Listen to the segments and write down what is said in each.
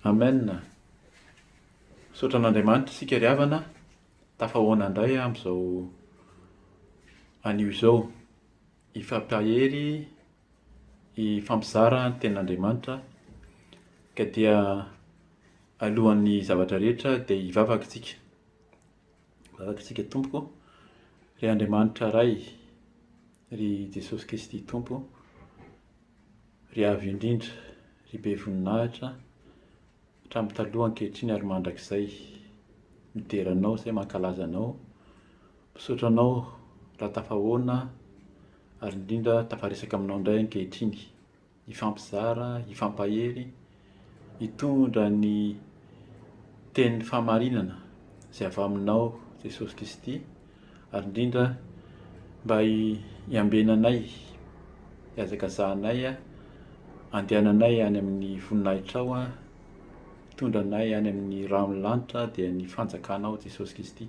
Amen a! Misaotra an'Andriamanitra isika ry havana, tafahoana indray amin'izao anio izao. Hifampiahery, hifampizara ny tenin'Andriamanitra, ka dia alohan'ny zavatra rehetra dia hivavaka isika. Hivavaka isika, Tompoko, ry Andriamanitra Ray, Ry Jesosy Kristy Tompo ô, ry Avo indrindra, ry Be voninahitra, hatramin'ny taloha, ankehitriny ary mandrakizay, midera Anao izay mankalaza Anao, misaotra Anao raha tafahoana ary indrindra tafaresaka aminao indray ankehitriny. hifampizara, hifampahery, hitondra ny tenin'ny fahamarinana izay avy aminao Jesosy Kristy ary indrindra mba hiambenanay, hihazakazahanay, handehananay any amin'ny voninahitrao, hitondra anay any amin'ny ran'ny lanitra dia ny fanjakanao Jesosy Kristy.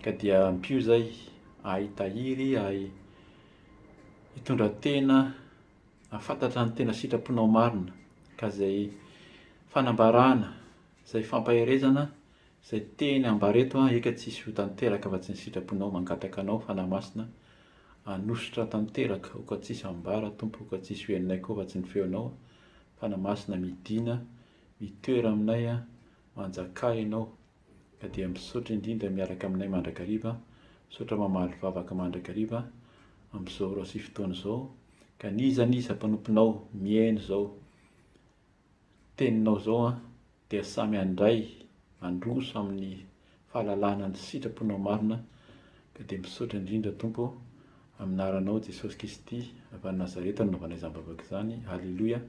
Ka dia ampio izay ahay hitahiry, ahay hitondra tena hahafantatra ny tena sitraponao marina ka izay fanambarana, izay fampaherezana izay teny ambara eto an eka tsisy ho tanteraka afa tsy ny sitraponao mangataka anao Fanahy Masina hanosotra tanteraka oka tsisy ambara Tompo oka tsisy ho henonay koa afa tsy ny feonao Fanahy Masina midina mitoera aminay an manjakà ianao Ka dia misaotra indrindra miaraka aminay mandrakariva, misaotra mamaly vavaka mandrakariva amin'izao ora sy fotoana izao, ka n'iza n'iza mpanomponao mihaino izao teninao izao an, dia samy handray handroso amin'ny fahalalana ny sitraponao marina, ka dia misaotra indrindra Tompo amin'anaranao Jesosy Kristy avy any Nazareta no nanaovanay izany vavaka izany, Aleloia,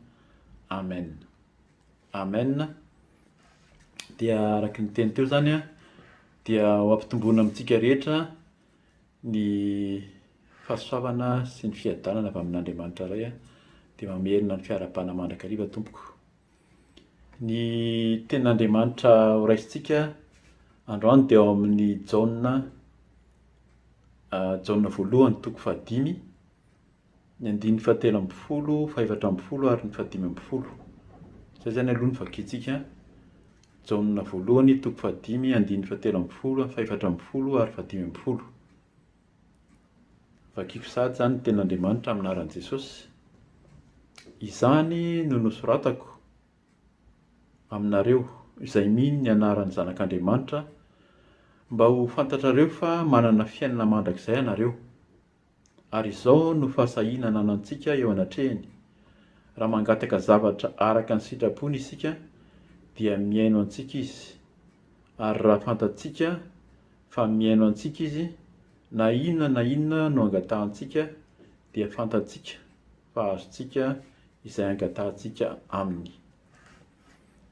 Amen. Amen, dia araka ny teny teo zany dia ho ampitomboina amintsika rehetra ny fahasoavana sy ny fiadanana avy amin'Andriamanitra Ray, dia mamerina ny fiarahabana mandrakariva tompoko. Ny tenin'Andriamanitra horaisintsika androany dia ao amin'ny Jaona, Jaona voalohany toko fahadimy, ny andininy fahatelo ambin'ny folo, fahefatra ambin'ny folo ary ny fahadimy ambin'ny folo. Izay izany aloha no vakintsika. Jaona voalohany, toko fahadimy, andininy fahatelo ambin'ny folo, fahefatra ambin'ny folo ary fahadimy ambin'ny folo. Vakiko sahady izany ny tenin'Andriamanitra amin'ny anaran'i Jesosy. Izany no nosoratako aminareo izay mino ny anaran'ny Zanak'Andriamanitra mba ho fantatrareo fa manana fiainana mandrakizay ianareo. Ary izao no fahasahiana ananantsika eo anatrehany, Raha mangataka zavatra araka ny sitrapony isika, dia mihaino antsika Izy. Ary raha fantatsika fa mihaino antsika Izy, na inona na inona no angatahantsika, dia fantatsika fa azontsika izay angatahantsika Aminy.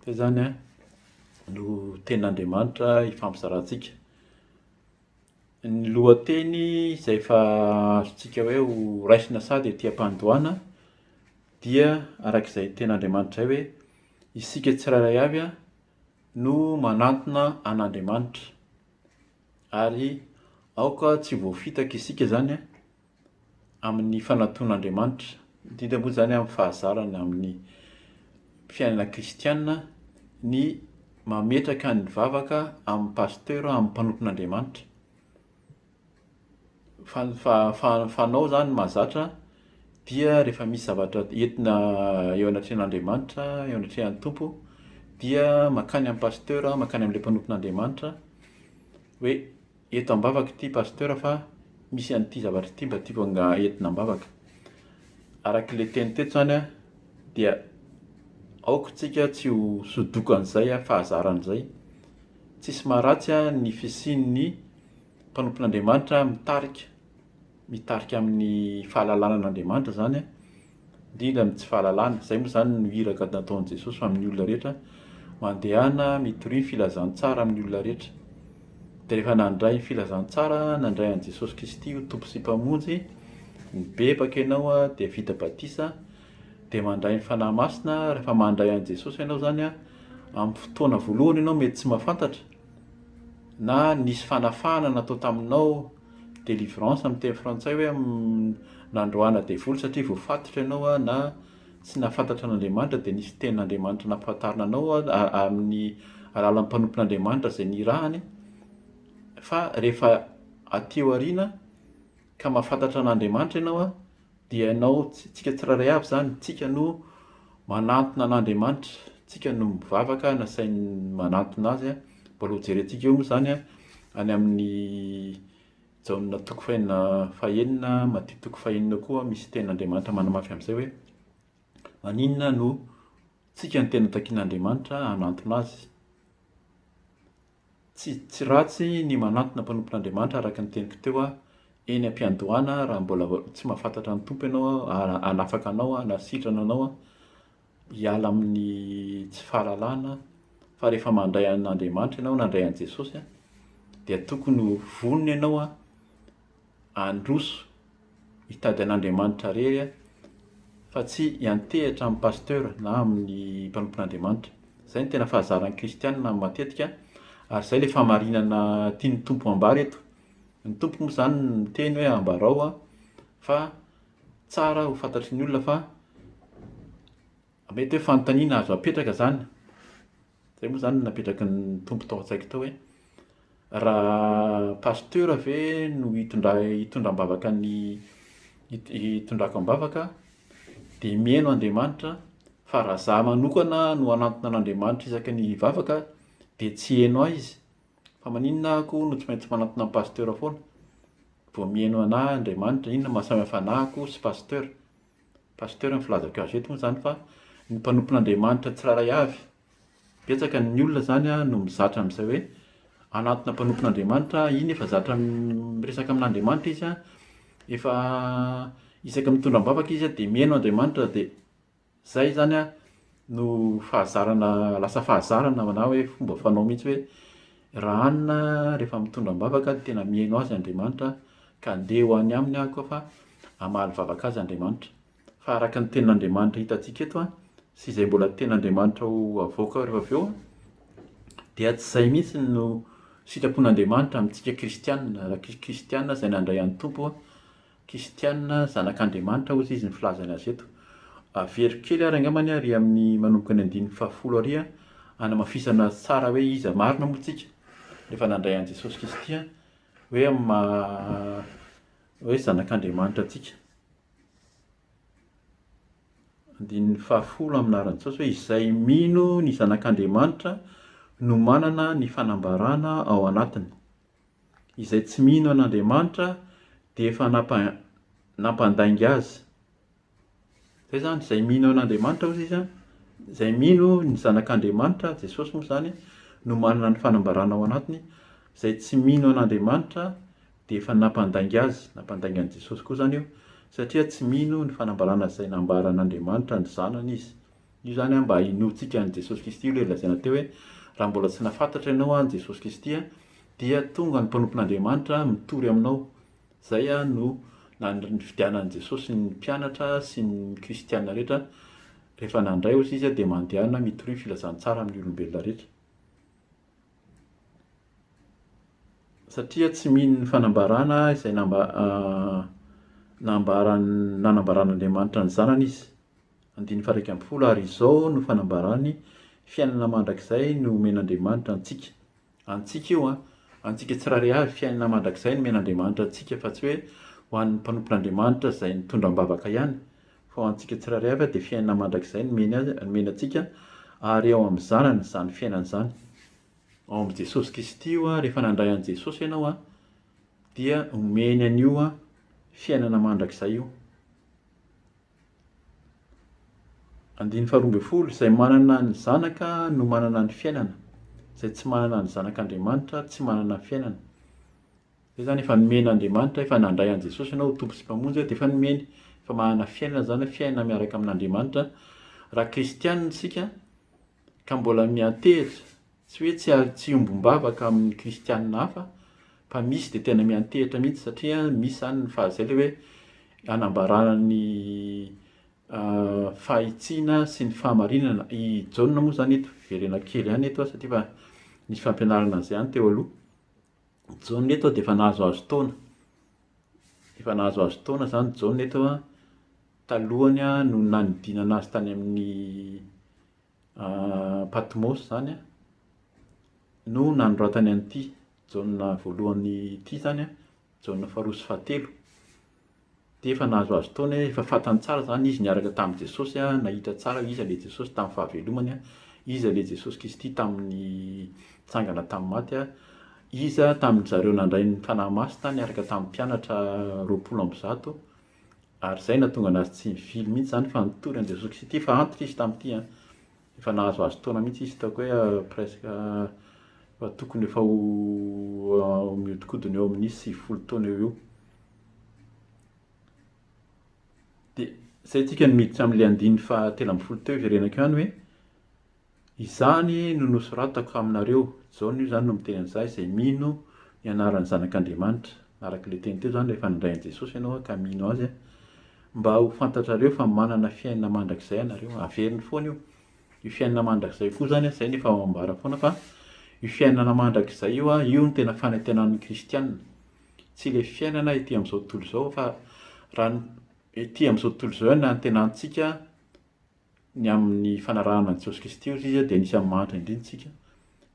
Dia izany no tenin'Andriamanitra ifampizarantsika. Ny lohateny izay efa azontsika hoe ho raisina sady ety am-pandohana dia araka izay tenin'Andriamanitra izay hoe isika tsirairay avy no manantona an'Andriamanitra ary aoka tsy ho voafitaka isika izany amin'ny fananton'Andriamanitra. Midika moa izany amin'ny fahazarana amin'ny fiainana kristiana ny mametraka ny vavaka amin'ny pasteur, amin'ny mpanompon'Andriamanitra. Fa ny fa- fa- fanao izany mahazatra dia rehefa misy zavatra entina eo anatrehan'Andriamanitra, eo anatrehan'ny Tompo dia mankany amin'ny pasteur, mankany amin'ilay mpanompon'Andriamanitra hoe. Eto ambavaka ity Pasteur fa misy an'ity zavatra ity mba tiako anga entina ambavaka. Araka le teny teto zany a dia aoka tsika tsy ho sodokan'izay a fahazaran'izay. Tsisy maharatsy a ny fisian'ny mpanompon'Andriamanitra mitarika. mitarika amin'ny fahalalana an'Andriamanitra izany, indrindra amin'ny tsy fahalalana. Izay moa izany no iraka nataon'i Jesosy amin'ny olona rehetra, mandehana mitoria ny filazantsara amin'ny olona rehetra. Dia rehefa nandray ny filazantsara, nandray an'i Jesosy Kristy ho Tompo sy Mpamonjy, mibebaka ianao dia vita batisa, dia mandray ny Fanahy Masina, rehefa mandray an'i Jesosy ianao izany a, amin'ny fotoana voalohany ianao mety tsy mahafantatra na nisy fanafahana natao taminao, délivrance amin'ny teny frantsay hoe nandroahana devoly satria voafatotra ianao na tsy nahafantatra an'Andriamanitra dia nisy tenin'Andriamanitra nampahafantarina anao amin'ny alalan'ny mpanompon'Andriamanitra izay nirahany fa rehefa aty aoriana ka mahafantatra an'Andriamanitra ianao Dia ianao, tsika tsirairay avy izany, tsika no manantona an'Andriamanitra, tsika no mivavaka, nasainy manantona Azy. Mbola ho jerentsika eo moa izany any amin'ny Jaona toko fahenina fahenina, Matia toko fahenina koa misy tenin'Andriamanitra manamafy an'izay hoe, maninona no tsika no tena takian'Andriamanitra hanantona Azy. Tsy tsy ratsy ny manantona mpanompon'Andriamanitra araka ny teniko teo aho eny am-piandohana raha mbola tsy mahafantatra ny Tompo ianao aho, hanafaka anao aho na sitrana anao aho hiala amin'ny tsy fahalalana fa rehefa mandray an'Andriamanitra ianao, nandray an'i Jesosy dia tokony ho vonona ianao an! handroso hitady an'Andriamanitra irery aho fa tsy hiantehitra amin'ny pasteur na amin'ny mpanompon'Andriamanitra. Izay no tena fahazaran'ny kristiana matetika ary izay ilay fahamarinana tian'ny Tompo hambara eto. Ny Tompo moa izany no miteny hoe ambarao aho fa tsara ho fantatry ny olona fa mety hoe fanontaniana azo apetraka izany. Izay moa izany no napetraky ny Tompo tao an-tsaiko tao hoe raha pasteur ve no hitondra- hitondra am-bavaka ny hit- hitondrako am-bavaka dia miheno Andriamanitra fa raha izaho manokana no hanantona an'Andriamanitra isaky ny hivavaka dia tsy hiheno ahy Izy, fa maninona aho koa no tsy maintsy manantona an'i pasteur foana? vao miheno an'ahy Andriamanitra, inona no maha samy hafa an'ahy koa sy pasteur? Pasteur ny filazako azy eto moa izany fa ny mpanompon'Andriamanitra tsirairay avy. Betsaka ny olona izany an no mizatra amin'izay hoe hanatona mpanompon'Andriamanitra aho, iny efa zatra miresaka amin'Andriamanitra izy an, efa isaky ny mitondra am-bavaka izy an dia mihaino Andriamanitra dia izay izany an. no fahazarana lasa fahazarana na hoe fomba fanao mihitsy hoe raha hanina rehefa mitondra am-bavaka dia tena mihaino azy Andriamanitra ka andeha ho any aminy aho koa fa hamaly vavaka azy Andriamanitra. Fa araka ny tenin'Andriamanitra hitantsika eto an, sy izay mbola tenin'Andriamanitra ho avoaka ao rehefa avy eo an, dia tsy izay mihitsy no sitrapon'Andriamanitra amintsika kristiana, raha kristiana izay nandray an'ny Tompo Kristiana, zanak'Andriamanitra hozy izy ny filazany azy eto. Avero kely ary angambany ary amin'ny manomboka ny andininy fahafolo ary hanamafisana tsara hoe iza marina moa tsika rehefa nandray an'i Jesosy Kristy hoe amin'ny maha hoe zanak'Andriamanitra antsika. Andininy fahafolo amin'ny anaran'i Jesosy hoe izay mino ny zanak'Andriamanitra no manana ny fanambarana ao anatiny. izay tsy mino an'Andriamanitra dia efa nampa nampandainga azy. Zay zany izay mino an'Andriamanitra ozy izy a, izay mino ny zanak'Andriamanitra, Jesosy moa zany, no manana ny fanambarana ao anatiny, izay tsy mino an'Andriamanitra dia efa nampandainga azy, nampandainga an'i Jesosy koa zany io satria tsy mino ny fanambarana izay nambaran'Andriamanitra ny zanany izy. Io izany an, mba hinoantsika an'i Jesosy Kristy io ilay lazaina teo hoe, raha mbola tsy nahafantatra ianao an'i Jesosy Kristy an, dia tonga ny mpanompon'Andriamanitra mitory aminao. Izay an no nifidianan'i Jesosy ny mpianatra sy ny kristiana rehetra, rehefa nandray ozy izy dia mandehana mitoria ny filazantsara amin'ny olombelona rehetra. Satria tsy mino ny fanambarana izay nambaran'Andriamanitra ny zanany izy. Andininy faha-iraika ambin'ny folo Ary izao no fanambarany, fiainana mandrakizay no omen'Andriamanitra antsika. Antsika io an! Antsika tsirairay avy, fiainana mandrakizay no omen'Andriamanitra antsika fa tsy hoe ho an'ny mpanompon'Andriamanitra izay nitondra am-bavaka ihany, fa ho antsika tsirairay avy dia fiainana mandrakizay no omeny azy, no omeny antsika, ary ao amin'ny Zanany izany fiainana izany. Ao amin'i Jesosy Kristy io an, rehefa nandray an'i Jesosy ianao an, dia omeny an'io an, fiainana mandrakizay io. Andininy faharoa ambin'ny folo, Izay manana ny Zanaka no manana ny fiainana, izay tsy manana ny Zanak'Andriamanitra tsy manana fiainana. Izay izany efa nomen'Andriamanitra, efa nandray an'i Jesosy ianao ho Tompo sy Mpamonjy Azy dia efa nomeny, efa manana fiainana izany hoe fiainana miaraka amin'Andriamanitra. Raha kristiana isika, ka mbola miantehitra, tsy hoe tsy ary tsy hiombom-bavaka amin'ny kristianina hafa, fa misy dia tena miantehitra mihitsy satria misy izany ny faha izay ilay hoe hanambarana ny fahitsiana sy ny fahamarinana. I Jaona moa izany eto, hiverena kely ihany eto aho satria efa nisy fampianarana an'izay ihany teo aloha. Jaona eto dia efa nahazoazo taona. Efa nahazoazo taona izany Jaona eto an, talohany no nanidinana azy tany amin'ny Patmos izany an, no nanoratany an'ity Jaona voalohany ity izany an, Jaona faharoa sy fahatelo. Dia efa nahazoazo taona hoe efa fantany tsara izany izy niaraka tamin'i Jesosy, nahita tsara hoe iza ilay Jesosy tamin'ny fahavelomany, iza ilay Jesosy Kristy tamin'ny nitsangana tamin'ny maty, iza tamin-dry zareo nandray ny Fanahy Masina niaraka tamin'ny mpianatra roapolo amby zato, ary izay no nahatonga an'azy tsy nivily mihitsy izany fa nitory an'i Jesosy Kristy, fa antitra izy tamin'ity an! Efa nahazoazo taona mihitsy izy hitako hoe presque efa tokony efa ho mihodinkodina eo amin'ny sivifolo taona eo ho eo. Dia izay tsika no miditra amin'ilay andininy fahatelo ambin'ny folo teo iverenako ihany hoe izany no nosoratako aminareo, Jaona io izany no miteny an'izaho izay mino ny anaran'ny Zanak'Andriamanitra, araka ilay teny teo izany rehefa nindray an'i Jesosy ianao ka mino azy. Mba ho fantatrareo fa manana fiainana mandrakizay ianareo. Averiny foana io. Io fiainana mandrakizay koa izany, izay no efa ambara foana fa io fiainana mandrakizay io, io no tena fanantenan'ny kristiana. Tsy ilay fiainana ety amin'izao tontolo izao fa raha ny ety amin'izao tontolo izao ihany no antenanintsika ny amin'ny fanarahana an'i Jesosy Kristy hoy izy dia anisan'ny mahantra indrindra isika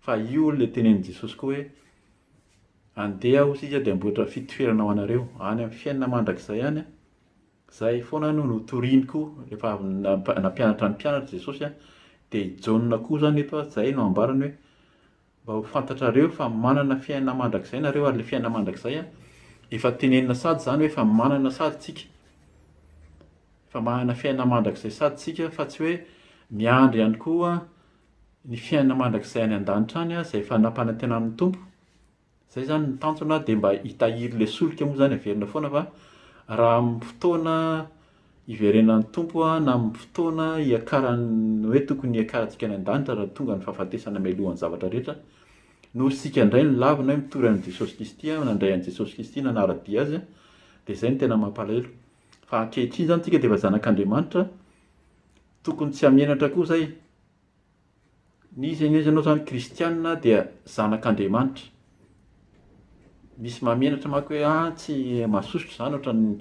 fa io ilay tenenin'i Jesosy koa hoe andeha hoy isika dia amboatra fitoerana ho anareo any amin'ny fiainana mandrakizay any a izay foana no notoriny koa rehefa avy nampianatra ny mpianatra Jesosy a dia i Jaona koa izany eto a izay no ambarany hoe Mba ho fantatrareo fa manana fiainana mandrakizay nareo ary le fiainana mandrakizay an, efa tenenina sady zany hoe efa manana sady tsika, efa manana fiainana mandrakizay sady tsika fa tsy hoe miandry ihany koa ny fiainana mandrakizay any an-danitra any izay efa nampanantenanin'ny Tompo, Zay zany ny tanjona dia mba hitahiry le solika moa zany averina foana fa raha amin'ny fotoana hiverenan'ny Tompo na amin'ny fotoana hiakaran'ny hoe tokony hiakarantsika any an-danitra raha tonga ny fahafatesana mialohan'ny zavatra rehetra no ry sika indray ny lavina hoe mitory an'i Jesosy Kristy aho, nandray an'i Jesosy Kristy, nanara-dia Azy aho dia zay no tena mampalahelo fa ankehitriny zany tsika dia efa zanak'Andriamanitra tokony tsy hamenatra koa zay. Ny izy anie ianao izany kristianina dia zanak'Andriamanitra. Misy mahamenatra manko hoe ah tsy mahasosotra izany ohatran'ny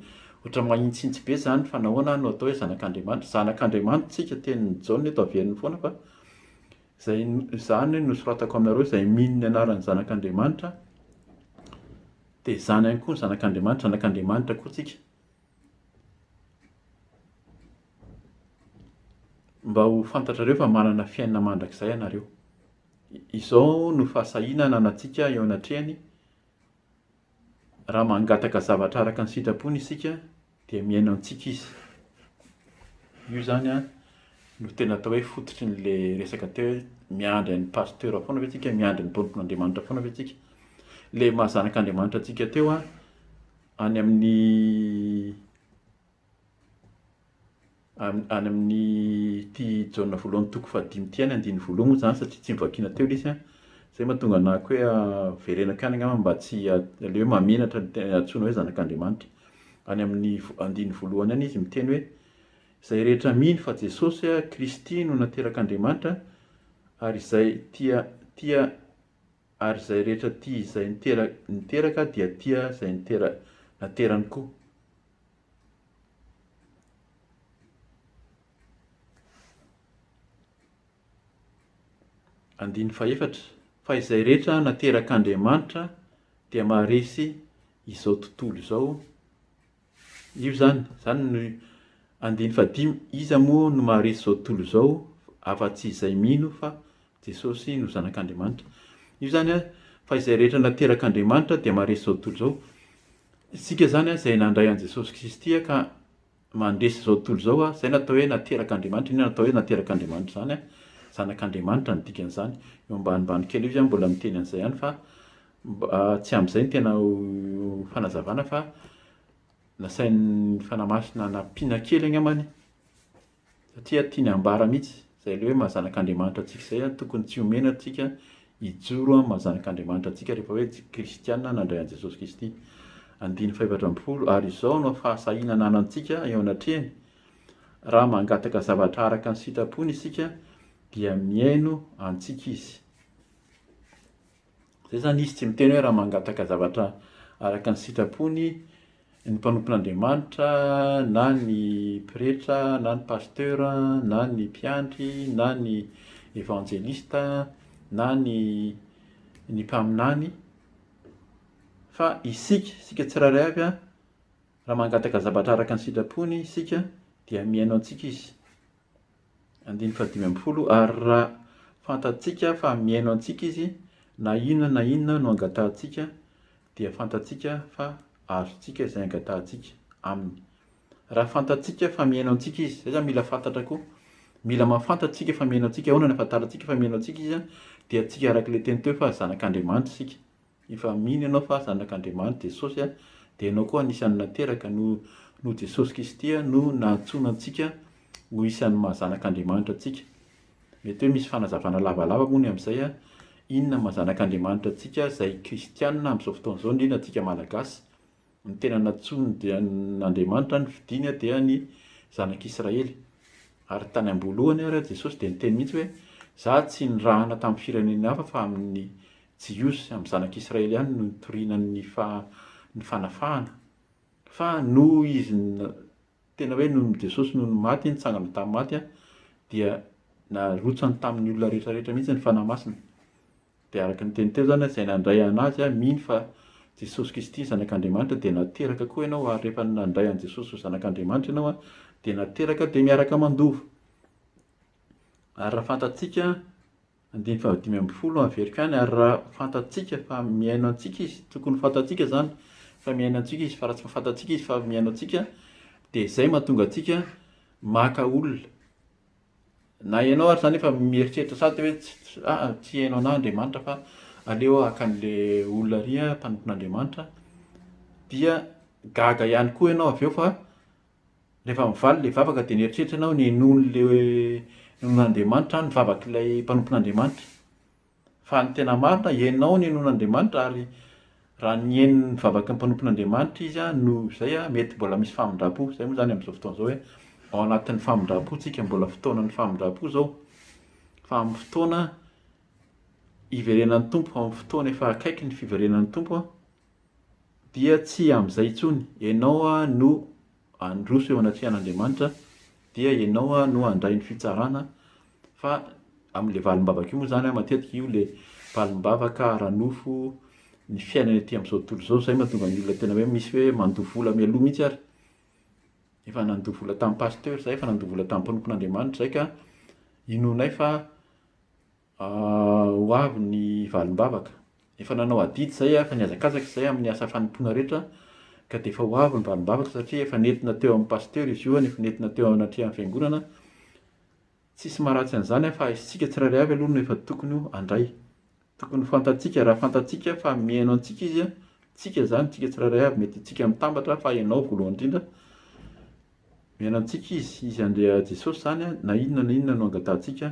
ohatran'ny mahitsitsy be izany fa nahoana no atao hoe zanak'Andriamanitra. Zanak'Andriamanitra isika tenin'i Jaona eto averiny foana fa izay izany no soratako aminareo izay mino ny anaran'ny zanak'Andriamanitra dia izany ihany koa ny zanak'Andriamanitra, zanak'Andriamanitra koa isika. Mba ho fantatrareo fa manana fiainana mandrakizay ianareo. Izao no fahasahiana ananantsika eo anatrehany, raha mangataka zavatra araka ny sitrapony isika dia mihaino antsika izy. Io izany an no tena atao hoe fototry an'ilay resaka teo hoe miandry an'i Pasteur foana ve isika, miandry ny tompon'Andriamanitra foana ve isika. Ilay maha zanak'Andriamanitra antsika teo an, any amin'ny any amin'ny ity jaona voalohany toko fahadimy ity any andininy voalohany moa izany satria tsy novakiana teo ilay izy an, izay no mahatonga anah koa hoe verenako ihany angamba mba tsy aleo hoe mahamenatra ny tena antsoina hoe zanak'Andriamanitra. Any amin'ny andininy voalohany any izy miteny hoe, izay rehetra mino fa Jesosy Kristy no naterak'Andriamanitra ary izay tia tia ary izay rehetra tia izay niteraka dia tia izay naterany koa. Andininy fahefatra, Fa izay rehetra naterak'Andriamanitra dia maharesy izao tontolo izao, Io izany, izany no andiany fahadimy, iza moa no maharesy izao tontolo izao afa-tsy izay mino fa Jesosy no Zanak'Andriamanitra. Io izany fa izay rehetra naterak'Andriamanitra dia maharesy izao tontolo izao. Isika izany izay nandray an'i Jesosy Kristy ka mandresy izao tontolo izao, izay no atao hoe naterak'Andriamanitra. Inona no atao hoe naterak'Andriamanitra izany? Zanak'Andriamanitra no dikan'izany. Eo ambanimbany kely eo izy mbola miteny an'izay ihany fa Mba tsy amin'izay ny tena ho fanazavana fa nasain'ny Fanahy Masina nampiana kely angambany satria tiany hambara mihitsy izay ilay hoe maha zanak'Andriamanitra antsika izay an, tokony tsy omena antsika hijoro amin'ny maha zanak'Andriamanitra antsika rehefa hoe kristiana nandray an'i Jesosy Kristy. Andininy fahefatra ambin'ny folo, ary izao no fahasahiana ananantsika eo anatrehany, raha mangataka zavatra araka ny sitrapony isika dia mihaino antsika izy. Izay izany izy tsy miteny hoe raha mangataka zavatra araka ny sitrapony ny mpanompon'Andriamanitra na ny pretra na ny pasteur na ny mpiandry na ny evanjelista na ny ny mpaminany fa isika, isika tsirairay avy an, raha mangataka zavatra araka ny sitrapony isika dia mihaino antsika izy. Andininy fahadimy ambin'ny folo, Ary raha fantatsika fa mihaino antsika izy, na inona na inona no angatahantsika, dia fantatsika fa azontsika izay angatahantsika Aminy. Raha fantatsika fa mihaino antsika izy, izay izany mila fantatra koa. Mila mahafantatra isika fa mihaino antsika. Ahoana no ahafantarantsika fa mihaino antsika izy? Dia antsika araka ilay teny teo fa zanak'Andriamanitra isika. Efa mino ianao fa zanak'Andriamanitra Jesosy dia ianao koa anisan'ny nateraka noho noho Jesosy Kristy no nahantsoina antsika ho isan'ny maha zanak'Andriamanitra antsika. Mety hoe misy fanazavana lavalava moa ny amin'izay an! Inona maha zanak'Andriamanitra antsika izay kristianina amin'izao fotoana izao, indrindra antsika Malagasy? Ny tena nantsoiny dia an' Andriamanitra ny fidiany dia ny Zanak' Israely. Ary tany am-boalohany ary Jesosy dia niteny mihitsy hoe, Zah tsy nirahana tamin'ny firenena hafa fa amin'ny Jiosy, amin'ny Zanak' Israely ihany no nitoriana ny fa- ny fanafahana. Fa noho izy na- tena hoe noho ny Jesosy noho ny maty, nitsangana tamin'ny maty dia narotsany tamin'ny olona rehetra rehetra mihitsy ny Fanahy Masina. Dia araka ny teny teo izany an, izay nandray an' Azy an, mino fa Jesosy Kristy ny Zanak' Andriamanitra, dia nateraka koa ianao, ary rehefa nandray an'i Jesosy ho Zanak' Andriamanitra ianao an, dia nateraka dia miaraka mandova. Ary raha fantatsika, andininy fahadimy ambin'ny folo no averiko any, ary raha fantatsika fa mihaino antsika Izy, tokony ho fantatsika izany fa mihaino antsika Izy, fa raha tsy fantatsika Izy fa mihaino antsika, dia izay mahatonga antsika maka olona. Na ianao ary izany efa mieritreritra sady hoe ah, tsy hainao anà Andriamanitra fa aleo aho haka an'ilay olona ary aho mpanompo an'Andriamanitra, dia gaga ihany koa ianao avy eo fa rehefa mivaly ilay vavaka dia nieritreritra ianao hoe nenoin'ilay nenoin'Andriamanitra aho ny vavak'ilay mpanompo an'Andriamanitra. Fa ny tena marina, ianao no inoan'Andriamanitra, ary raha nihaino ny vavaky ny mpanompon'Andriamanitra izy no izay, mety mbola misy famindrampo. Izay moa izany amin'izao fotoana izao hoe ao anatin'ny famindrampo isika, mbola fotoanan'ny famindrampo izao. Fa amin'ny fotoana hiverenan'ny Tompo, amin'ny fotoana efa akaiky ny fiverenan'ny Tompo dia tsy amin'izay intsony. Ianao no handroso eo anatrihan'Andriamanitra dia ianao no handray ny fitsarana fa amin'ilay valim-bavaka io moa izany matetika io ilay valim-bavaka ara-nofo ny fiainana ety amin'izao tontolo izao, izay no mahatonga ny olona tena hoe misy hoe mandoa vola mialoha mihitsy ary, efa nandoa vola tamin'ny pasitera izahay, efa nandoa vola tamin'ny mpanompon'Andriamanitra izahay ka inoanay fa. Ho avy ny valim-bavaka. Efa nanao adidy izay, efa nihazakazaka izay amin'ny asa fanompoana rehetra, ka dia efa ho avy ny valim-bavaka satria efa nentina teo amin'ny pasitera izy io, efa nentina teo anatrehan'ny fiangonana. Tsisy maharatsy an'izany fa isika tsirairay avy aloha no efa tokony handray. Tokony ho fantatsika, raha fantatsika fa mihaino antsika izy, tsika izany, tsika tsirairay avy, mety tsika mitambatra fa ianao voalohany indrindra, Miaina amintsika Izy, Izy andeha Jesosy izany na inona na inona no angatahantsika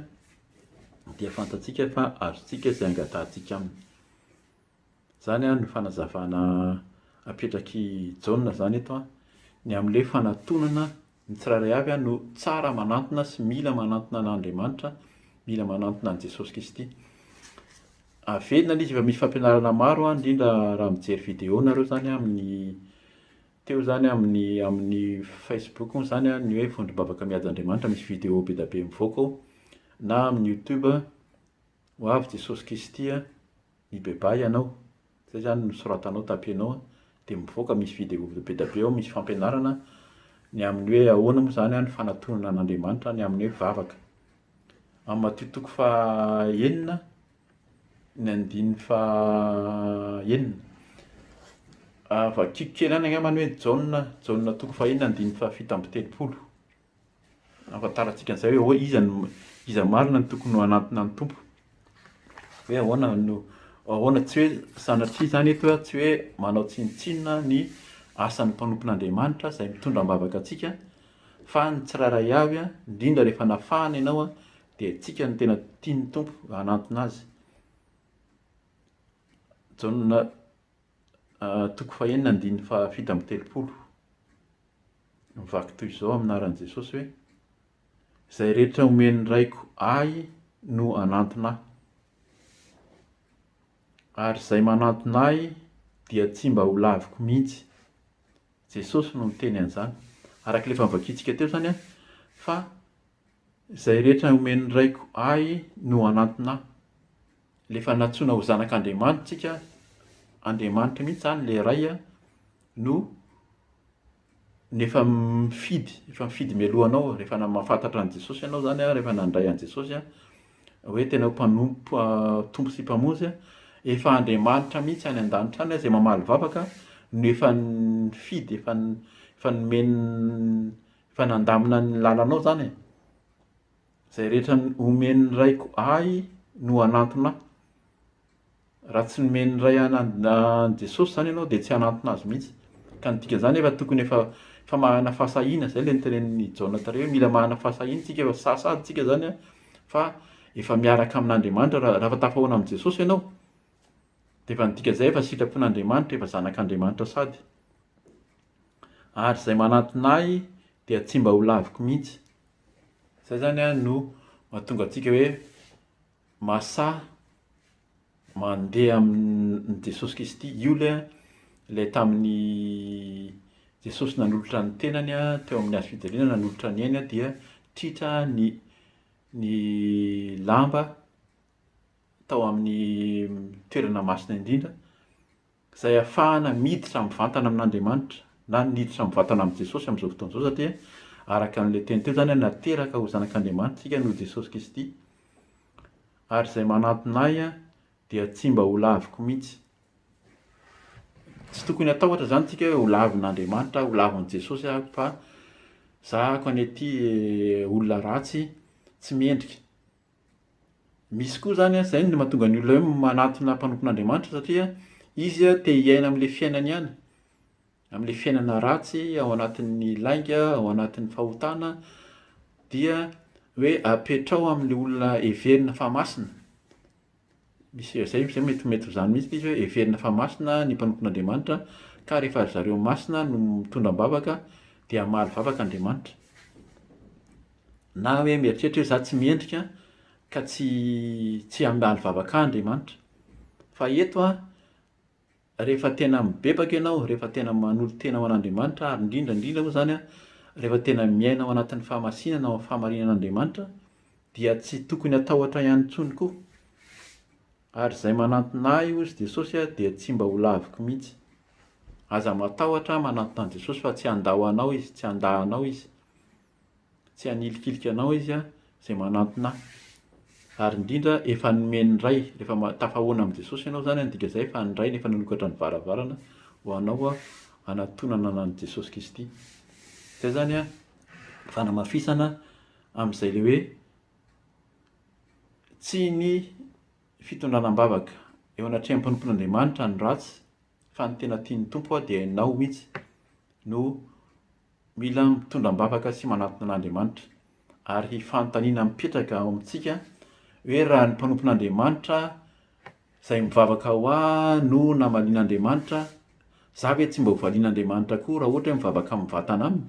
dia fantatsika fa azontsika izay angatahantsika Aminy. Izany ary ny fanazavana apetrak'i Jaona izany eto an, ny amin'ilay fanatonana ny tsirairay avy no tsara manantona sy mila manantona an'Andriamanitra, mila manantona an'i Jesosy Kristy. Averina ilay izy efa misy fampianarana maro an, indrindra raha mijery vidéo nareo izany amin'ny Teo izany amin'ny amin'ny Facebook moa izany ny hoe vondrom-bavaka mihaja Andriamanitra, misy vidéo be dia be mivoaka ao, na amin'ny YouTube, ho avy Jesosy Kristy a, mibebaha ianao, izay izany no soratanao, tapenao, dia mivoaka, misy vidéo be dia be ao, misy fampianarana ny amin'ny hoe ahoana moa izany ny fanatonana an'Andriamanitra, ny amin'ny hoe vavaka. Amin'ny matio toko faha enina, ny andininy faha enina. Vakiko kely any angambany hoe Jaona, Jaona toko faha enina andininy faha fito amby telopolo. Ahafantarantsika an'izay hoe ahoa- iza no, iza marina no tokony ho hanantona ny Tompo. Hoe ahoana no, ahoana tsy hoe, sanatria izany eto hoe tsy hoe manao tsinontsinona ny asan'ny mpanompon'Andriamanitra izay mitondra am-bavaka antsika, fa ny tsirairay avy, indrindra rehefa nafahana ianao, Dia antsika no tena tian'ny Tompo hanantona azy. Jaona toko fahenina andininy fahafito amby telopolo. Mivaky toy izao amin'ny anaran'i Jesosy hoe, Izay rehetra omen'ny Raiko Ahy no hanantona Ahy. Ary izay manantona Ahy dia tsy mba ho laviko mihitsy. Jesosy no niteny an'izany. Araka ilay efa novakintsika teo izany fa Izay rehetra omen'ny Raiko Ahy no hanantona Ahy. Rehefa nantsoina ho zanak'Andriamanitra isika, Andriamanitra mihitsy izany ilay Ray no no efa mifidy, efa mifidy mialoha anao, rehefa mahafantatra an'i Jesosy ianao izany, rehefa nandray an'i Jesosy hoe tena ho mpanompo, Tompo sy Mpamonjy, efa Andriamanitra mihitsy any an-danitra any izay mamaly vavaka no efa nifidy, efa efa nomeny Fa nandamina ny lalanao zany e! Zay rehetra omen'ny raiko ahy no hanantona ahy. Raha tsy nomen'ny Ray an'i Jesosy zany ianao dia tsy hanantona azy mihitsy. Ka ny dikan'izany efa tokony efa efa manana fahasahiana, zay ilay notenenin'i Jaona tary hoe mila manana fahasahiana isika efa sasa isika zany an, fa efa miaraka amin'Andriamanitra raha raha efa tafahoana amin'i Jesosy ianao dia efa ny dikan'izay efa sitrapon'Andriamanitra, efa zanak'Andriamanitra sady. ary izay manatona ahy dia tsy mba ho laviko mihitsy. Izay izany an no mahatonga antsika hoe mahasahy mandeha amin'i Jesosy Kristy. Io ilay an, ilay tamin'i Jesosy nanolotra ny tenany an, teo amin'ny hazo fijaliana nanolotra ny ainy dia tritra ny ny lamba tao amin'ny toerana masina indrindra. izay ahafahana miditra mivantana amin'Andriamanitra na niditra mivantana amin'i Jesosy amin'izao fotoana izao satria araka an'ilay teny teo izany nateraka ho zanak'Andriamanitra isika noho Jesosy Kristy ary izay manantona ahy dia tsy mba ho laviko mihitsy. Tsy tokony hatahotra izany isika hoe ho lavin'Andriamanitra aho, ho lavin'i Jesosy aho fa zahako any aty eh, olona ratsy tsy mendrika Misy koa izany an, izay no mahatonga ny olona hoe manatona mpanompon'Andriamanitra satria izy te hiaina amin'ilay fiainany ihany, amin'ilay fiainana ratsy ao anatin'ny lainga, ao anatin'ny fahotana, dia hoe apetraho amin'ilay olona heverina fa masina. Misy izay izay izay mety mety ho izany mihitsy izy hoe heverina fa masina ny mpanompo an'Andriamanitra ka rehefa ry zareo masina no mitondra am-bavaka dia hamaly vavaka Andriamanitra. Na hoe mieritreritra hoe izaho tsy mendrika ka tsy tsy hamaly vavaka ahy Andriamanitra. Fa eto an, rehefa tena mibebaka ianao, rehefa tena manolo-tena ho an'Andriamanitra, ary indrindra indrindra moa izany an, rehefa tena miaina ao anatin'ny fahamasinana, ao amin'ny fahamarinan'Andriamanitra, dia tsy tokony hatahotra ihany intsony koa. Ary izay manantona Ahy, hoy Jesosy an, dia tsy mba ho laviko mihitsy. Aza matahotra manantona an'i Jesosy fa tsy handao anao Izy, tsy handà anao Izy. Tsy hanilikilika anao izy izay manantona ahy. Ary indrindra efa nomen'ny Ray, rehefa ma- tafahaona amin'i Jesosy ianao izany dia midika izay fa ny Ray no efa nanokatra ny varavarana ho anao hanatonana an'i Jesosy Kristy. Izay izany an, fanamafisana amin'izay ilay hoe tsy ny fitondrana am-bavaka eo anatrehan'ny mpanompon'Andriamanitra ny ratsy fa ny tena tian'ny Tompo dia ianao mihitsy no Mila mitondra am-bavaka sy manatona an'Andriamanitra, ary fanontaniana mipetraka ao amintsika hoe raha ny mpanompon'Andriamanitra izay mivavaka ho ahy no namalian'Andriamanitra, za ve tsy mba ho valian'Andriamanitra koa raha ohatra hoe mivavaka mivatana aminy?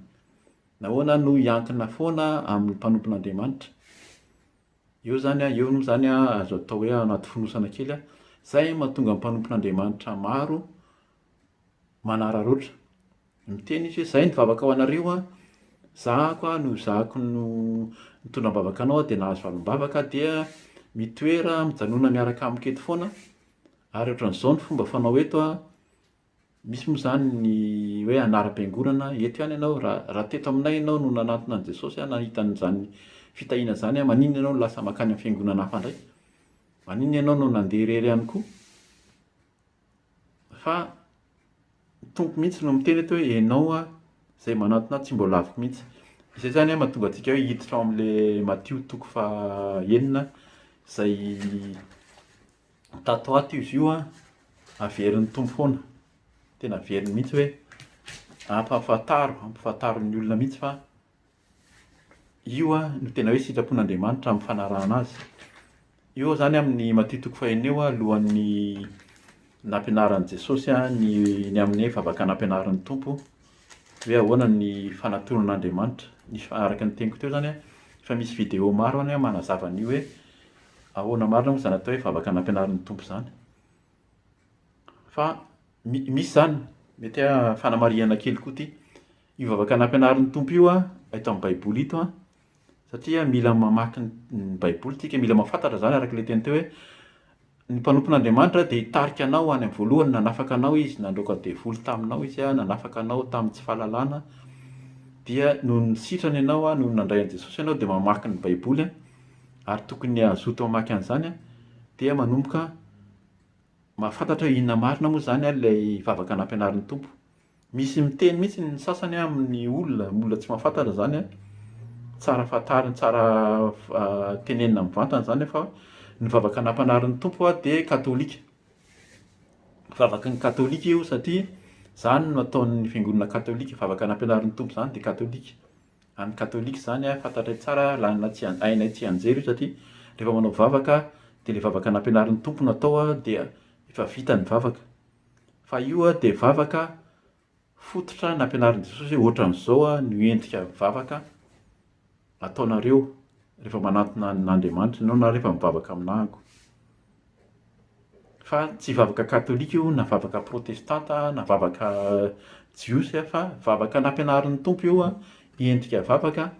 Nahoana no hiankina foana amin'ny mpanompon'Andriamanitra? Eo zany a, eo moa zany a, azo atao hoe anaty fonosana kely a, izay mahatonga ny mpanompon'Andriamanitra maro manararaotra. Miteny izy hoe, Izay ny vavaka ho anareo an, zahako an, noho zahako no nitondra am-bavaka anao aho dia nahazo valim-bavaka aho dia mitoera mijanona miaraka amiko eto foana ary ohatran'izao ny fomba fanao eto an, misy moa izany ny hoe anaram-piangonana, eto ihany ianao, raha raha teto aminay ianao no nanantona an'i Jesosy an, nahita an'izany fitahiana izany an, maninona ianao no lasa mankany amin'ny fiangonana hafa indray? Maninona ianao no nandeha irery ihany koa? Fa ny Tompo mihitsy no miteny eto hoe ianao aho izay manantona ahy tsy mbola aviko mihitsy. Izay izany an mahatonga antsika hoe hiditra ao amin'ilay Matio toko faha enina izay tato ho ato izy io an, averin'ny Tompo foana. Tena averiny mihitsy hoe ampahafantaro, ampahafantaro ny olona mihitsy fa. Io no tena hoe sitrapon'Andriamanitra amin'ny fanarahana azy. Io izany amin'ny Matio toko fahenina io alohan'ny nampianaran'i Jesosy ny ny amin'ny hoe vavaka nampianarin'ny Tompo hoe ahoana ny fanatoron'Andriamanitra. Ny fa- araka ny teniko teo izany an, efa misy video maro any manazava an'io hoe ahoana marina moa izany atao hoe vavaka nampianarin'ny Tompo izany. Fa mi- misy izany, mety hoe fanamarihana kely koa ity. Io vavaka nampianarin'ny Tompo io eto amin'ny Baiboly ito satria mila mamaky ny Baiboly isika, mila mahafantatra izany araka ilay teny teo hoe ny mpanompon'Andriamanitra dia hitarika anao any amin'ny voalohany, nanafaka anao Izy, nandroaka ny devoly taminao Izy, nanafaka anao tamin'ny tsy fahalalana, dia noho ny sitrany ianao, noho ny nandray an'i Jesosy ianao dia mamaky ny Baiboly ary tokony hazoto hamaky an'izany dia manomboka mahafantatra hoe inona marina moa izany ilay vavaka nampianarin'ny Tompo. Misy miteny mihitsy ny sasany an amin'ny olona, olona tsy mahafantatra zany an, tsara fantarina, tsara tenenina mivantana zany an fa ny vavaka nampanarin'ny Tompo aho dia katolika. Vavaky ny katolika io satria zany no ataon'ny fiangonana katolika, vavaka nampianarin'ny Tompo zany dia katolika. Any katolika zany an fantatray tsara an, laninay tsy, hainay tsianjery io satria rehefa manao vavaka dia le vavaka nampianarin'ny Tompo no atao an dia efa vita ny vavaka. Fa io dia vavaka fototra nampianarin'i Jesosy hoe ohatran'izao no endrika vavaka ataonareo rehefa manantona an'Andriamanitra ianao na rehefa mivavaka amin'Ako. Fa tsy vavaka katolika io na vavaka protestanta na vavaka jiosy fa vavaka nampianarin'ny Tompo io endrika vavaka.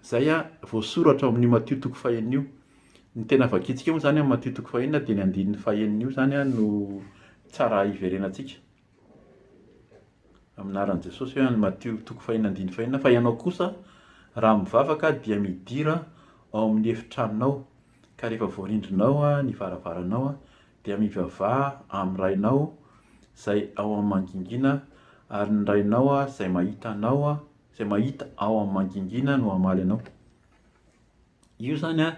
Izay voasoratra ao amin'io Matio toko fahenina io. Ny tena vakintsika moa izany amin'ny Matio toko fahenina dia ny andininy fahenina io izany no tsara hiverenantsika. Amin'ny anaran'i Jesosy hoe any Matio toko fahenina andininy fahenina fa ianao kosa raha mivavaka dia midira ao amin'ny efitranonao ka rehefa voarindrinao ny varavaranao dia mivavaha amin'ny Rainao izay ao amin'ny mangingina ary ny Rainao izay mahita anao Izay mahita ao amin'ny mangingina no hamaly anao. Io izany an,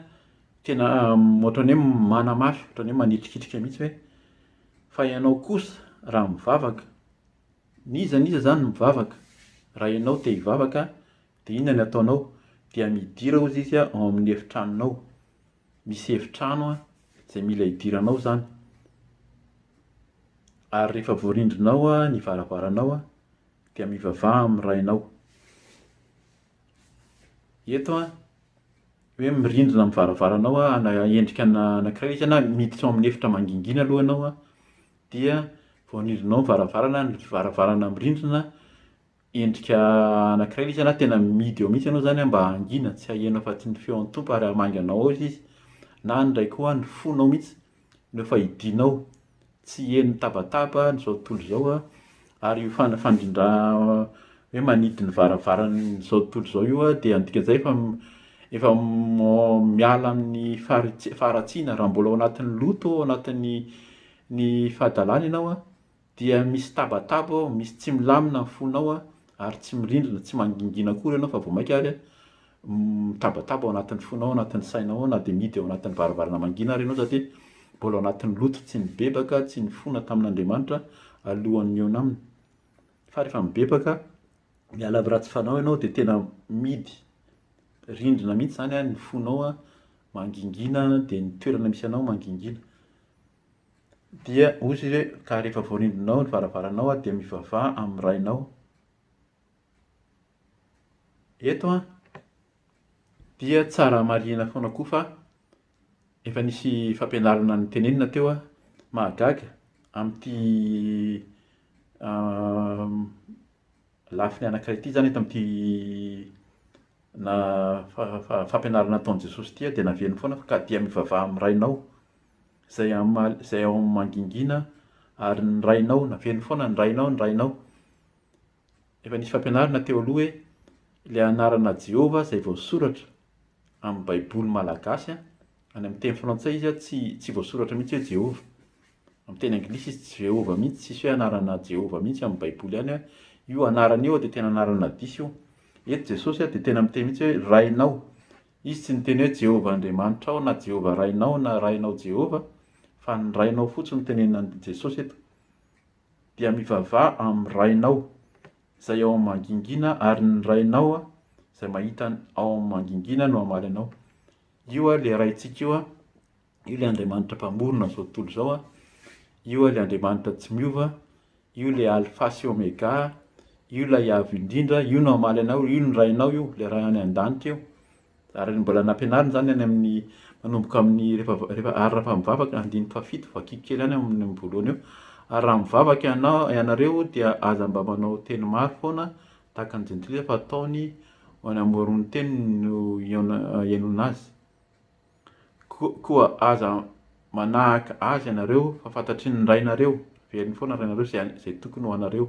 tena ohatran'ny hoe manamaso, ohatran'ny hoe manitrikitrika mihitsy hoe fa ianao kosa raha mivavaka, n'iza n'iza izany no mivavaka, raha ianao te hivavaka dia inona no ataonao? Dia midira hozy izy ao amin'ny efitranonao. Misy efitrano izay mila hidiranao izany. Ary rehefa voarindrinao ny varavaranao dia mivavaha amin'ny rainao. Eto an, hoe mirindrina amin'ny varavaranao an, endrika anankiray izy an, miditra ao amin'ny efitra mangingina aloha ianao an, dia vao nirindrinao ny varavarana, ny varavarana mirindrina, endrika anankiray ilay izy an, na tena mihidy eo mihitsy ianao izany an, mba hangina tsy hahianao afa-tsy ny feon'ny Tompo ary hamangy anao ao izy, na ny iray koa ny fonao mihitsy. Ireo fahidinao tsy heno tabataba an'izao tontolo izao an, ary io fandrindra hoe manidy ny varavaran'izao tontolo izao io an dia midika an'izay fa efa miala amin'ny faharatsiana, raha mbola ao anatin'ny loto, ao anatin'ny fahadalana ianao an, Dia misy tabataba ao, misy tsy milamina ny fonao ary tsy mirindrina, tsy mangingina akory ianao fa vao mainka ary mitabataba ao anatin'ny fonao, ao anatin'ny sainao ao na dia mihidy ao anatin'ny varavarana mangina ary ianao za dia mbola ao anatin'ny loto tsy nibebaka, tsy nifona tamin'Andriamanitra alohan'ny nihaona aminy. Fa rehefa mibebaka, miala amin'ny ratsy fanao ianao dia tena mihidy rindrina mihitsy izany ny fonao, mangingina dia ny toerana misy anao mangingina. Dia hoy izy hoe, Ka rehefa voarindrinao ny varavaranao, dia mivavaha amin'ny rainao. Eto dia tsara marihina foana koa fa efa nisy fampianarana notenenina teo mahagaga amin'ity lafiny anankiray ity izany, eto amin'ity fampianarana nataon'i Jesosy ity dia naveriny foana fa ka dia mivavaha amin'ny rainao. izay hamaly izay ao amin'ny mangingina ary ny rainao naveno foana ny rainao ny rainao efa nisy fampianarana teo aloha hoe ilay anarana Jehovah izay voasoratra amin'ny Baiboly malagasy a, any amin'ny teny frantsay izy a, tsy tsy voasoratra mihitsy hoe Jehovah. Amin'ny teny anglisy izy tsy Jehovah mihitsy, tsisy hoe anarana Jehovah mihitsy amin'ny Baiboly any hoe io anarana io dia tena anarana diso io. Eto Jesosy a dia tena miteny mihitsy hoe rainao. Izy tsy niteny hoe Jehovah Andriamanitrao na Jehovah Rainao na Rainao Jehovah, fa ny Rainao fotsiny no tenenin'i Jesosy eto. Dia mivavaha amin'ny Rainao izay ao amin'ny mangingina ary ny Rainao izay mahita ny ao amin'ny mangingina no hamaly anao. Io ilay Raintsika io Io ilay Andriamanitra Mpamorona amin'izao tontolo izao. Io ilay Andriamanitra tsy miova. Io ilay Alfa sy Omega. Io ilay Avo Indrindra. Io no hamaly anao. Io no Rainao io, ilay Ray any an-danitra io. Ary mbola nampianarina izany any amin'ny manomboka amin'ny rehefa rehefa ary raha mivavaka andininy fahafito vakiko kely any amin'ny voalohany eo ary raha mivavaka ianao ianareo dia aza mba manao teny maro foana tahaka ny jentilisa fa ataony ho any amoron'ny teniny no hihaona hihainoana azy. Koa aza manahaka azy ianareo, fa fantatry ny Rainareo, velony foana ny Rainareo, izay, izay tokony ho anareo,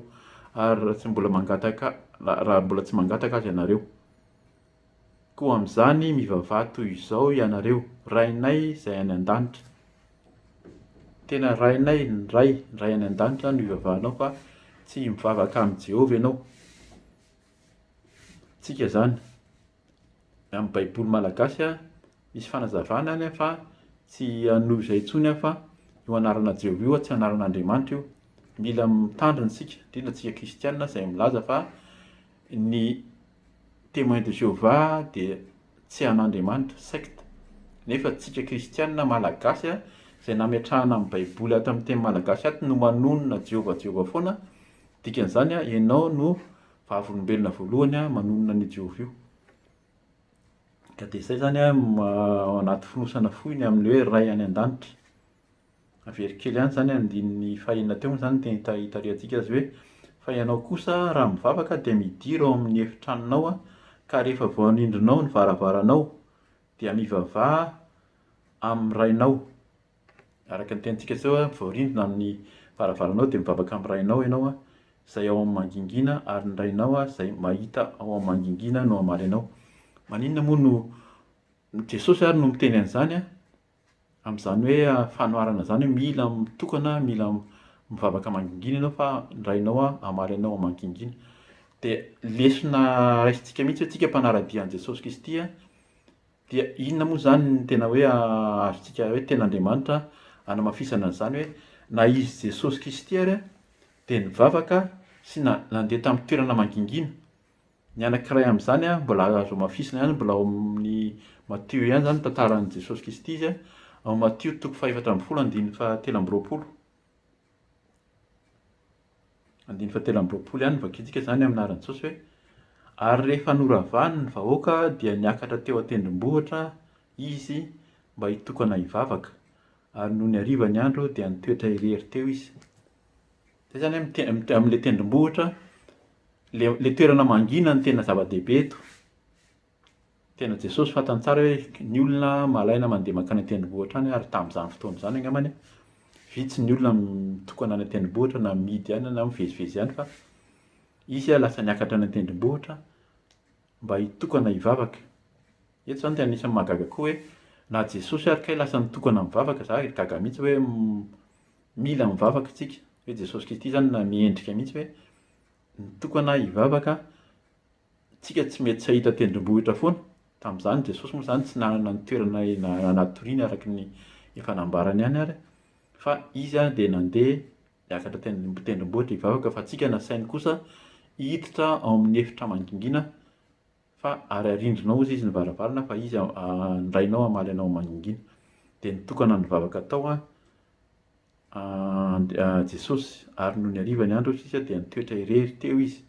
ary raha tsy mbola mangataka, raha mbola tsy mangataka azy ianareo. Koa amin'izany mivavaha toy izao ianareo, Rainay izay any an-danitra. Tena Rainay, ny Ray, ny Ray any an-danitra no ivavahanao fa tsy mivavaka amin'i Jehovah ianao. Tsika izany. amin'ny baiboly malagasy a, misy fanazavana any a fa tsy hanohy izay intsony aho fa io anarana Jeho io tsy anaran'Andriamanitra io. Mila mitandrina isika, indrindra antsika kristiana izay milaza fa ny Témoins de Jéhovah dia tsy an'Andriamanitra, secte. Nefa antsika kristiana malagasy a, izay nametrahana ny baiboly ato amin'ny teny malagasy ato no manonona Jeho, Jeho foana, dikan'izany a ianao no vavolombelona voalohany manonona an'io Jehovah io. Ka dia izay izany anaty fonosana fohy ny amin'ny hoe Ray any an-danitra. Very kely ihany izany andininy fahenina teo moa izany dia hitarihantsika azy hoe fa ianao kosa raha mivavaka dia midira ao amin'ny efitranonao ka rehefa voanindrinao ny varavaranao dia mivavaha amin'ny Rainao Araka ny tenintsika teo, vao rindrina amin'ny varavaranao dia mivavaka amin'ny Rainao ianao izay ao amin'ny mangingina ary ny Rainao izay mahita ao amin'ny mangingina no hamaly anao. Maninona moa no Jesosy ary no miteny an'izany amin'izany hoe fanoharana izany hoe mila mitokana, mila mivavaka mangingina ianao fa ny Rainao hamaly anao ao mangingina. Dia lesona raisintsika mihitsy hoe tsika mpanara-dia an'i Jesosy Kristy Dia inona moa izany ny tena hoe azontsika hoe tena Andriamanitra anamafisana an'izany hoe na izy Jesosy Kristy ary dia nivavaka sy nandeha tamin'ny toerana mangingina? Ny anankiray amin'izany mbola azo amafisina ihany, mbola ao amin'ny Matio ihany izany ny tantaran'i Jesosy Kristy izy ao Matio toko fahefatra ambin'ny folo andininy fahatelo amby roapolo. Andininy fahatelo amby roapolo ihany no vakintsika izany amin'ny anaran'i Jesosy hoe, Ary rehefa noravany ny vahoaka dia niakatra teo an-tendrombohitra izy mba hitokana hivavaka, ary nony hariva ny andro dia nitoetra irery teo izy. Izay izany amin'ny te- amin'ny te- amin'ilay tendrombohitra, ilay ilay toerana mangina no tena zava-dehibe eto. Tena Jesosy fantany tsara hoe ny olona malaina mandeha mankany an-tendrombohitra any ary tamin'izany fotoana izany angambany vitsy ny olona mitokana any an-tendrombohitra na mihidy any na mivezivezy any fa izy lasa niakatra any an-tendrombohitra mba hitokana hivavaka. Eto izany dia anisan'ny mahagaga koa hoe na Jesosy ary kay lasa nitokana mivavaka, za gaga mihitsy hoe mila mivavaka isika hoe Jesosy Kristy izany na miendrika mihitsy hoe nitokana hivavaka Tsika tsy mety tsy hahita tendrombohitra foana. Tamin'izany Jesosy moa izany tsy nanana ny toerana hanatoriany araka ny efa nambarany ihany ary fa izy dia nandeha niakatra teny am-pitendrombohitra hivavaka fa antsika nasainy kosa hiditra ao amin'ny efitra mangingina fa ary arindrinao hozy izy ny varavarana fa izy andrainao hamaly anao mangingina. Dia nitokana nivavaka tao And, Jesosy, ary nony hariva ny andro sisa dia nitoetra irery teo izy.